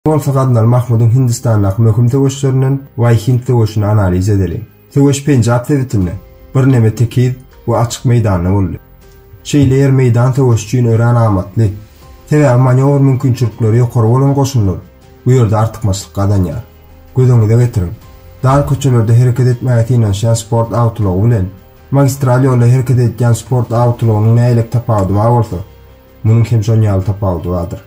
Bolsa Gaznal Mahmudyň Hindistandaky möhüm söweşlerinden Waý-Hind söweşini analiz edeliň. Söweş Penjap sebitinde, birneme tekiz we açyk meýdanda boldy. Şeýle ýer meýdan söweşi üçin örän amatly. Sebäbi manýowr mümkinçilikleri ýokary bolan goşunlar bu ýerde artykmaçlyk gazanýar. Göz öňüňize getiriň. Dar köçelerde hereket etmäge synanyşýan sport awtoulagy bilen, magistral ýolda hereket edýän sport awtoulagynyň nähili tapawudy bar bolsa, Munuň hem şonuň ýaly tapawudy bardyr.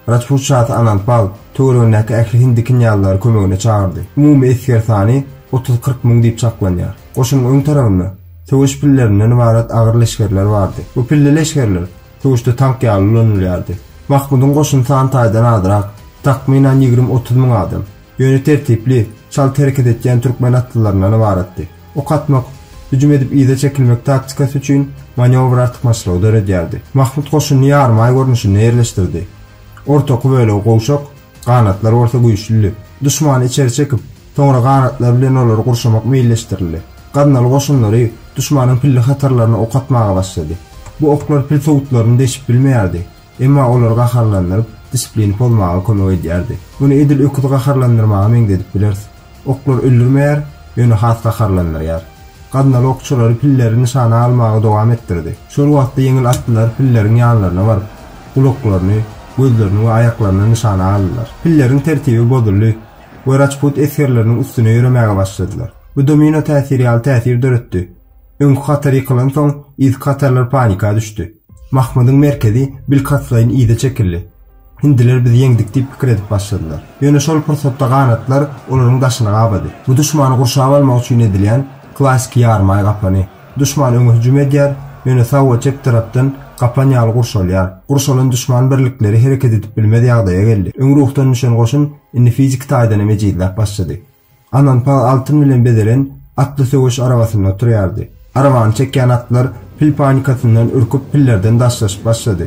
Rajput şasy Anandpal töweregindäki ähli hindi knýazlary kömegine çagyrdy. Umumy esger sany otuz-kyrk müň diýip çaklanýar. Goşunyň öň tarabynda söweş pillerinden ybarat agyr leşgerler bardy. Bu pilli leşgerler söweşde tank ýaly ulanylýardy. Mahmudyň goşuny san taýdan azrak, takmynan ýigrimi-otuz müň adam. Ýöne tertipli, çalt hereket etýän türkmen atlylaryndan ybaratdy. Ok atmak, hüjüm edip yza çekilmek taktikasy üçin manewr artykmaçlygy döredýärdi. Mahmut goşunyny ýarymaý görnüşinde ýerleşdirdi. Ortaky bölegi gowşak, ganatlar bolsa güýçlüdi. Duşmany içeri çekip, soňra ganatlar bilen olary gurşamak meýilleşdirildi. Gaznaly goşunlary duşmanyň pilli hatarlaryna ok atmaga başlady. Bu oklar pil sowutlaryny deşip bilmeýärdi. Emma olar gaharlandyryp, disiplini pozmaga kömek edýärdi. Muny edil öküzi gaharlandyrmaga meňzedip bileris. Oklar öldürmeýär, ýöne has gaharlandyrýar. Gaznaly okçulary pilleri nyşana almagy dowam etdirdi. Şol wagtda ýeňil atlylar pilleriň ýanlaryna baryp, gulaklaryny, gözlerini we aýaklaryny nyşana aldylar. Pilleriň tertibi bozuldy we raçput esgerleriniň üstüne ýöremäge başladylar. Bu domino täsiri ýaly täsir döretdi. Öňki hatar ýykylansoň, yzky hatarlar panika düşdi. Mahmydyň merkezi bilkastlaýyn yza çekildi. Hindiler biz ýeňdik diýip pikir edip başladylar. Ýöne şol pursatda ganatlar olaryň daşyny gabady. Bu duşmany gurşap almak üçin edilýän klassyky ýarymaý gapany. Duşman öňe hüjüm edýär, ýöne sag we çep tarapdan gapan ýaly gurşalýar. Gurşalan duşman birlikleri hereket edip bilmez ýagdaýa geldi. Öň ruhdan düşen goşun indi fiziki taýdan hem ejizläp başlady. Ananpal altyn bilen bezelen atly söweş arabasynda oturýardy. Arabany çekýän atlar pil panikasyndan ürküp pillerden daşlaşyp başlady.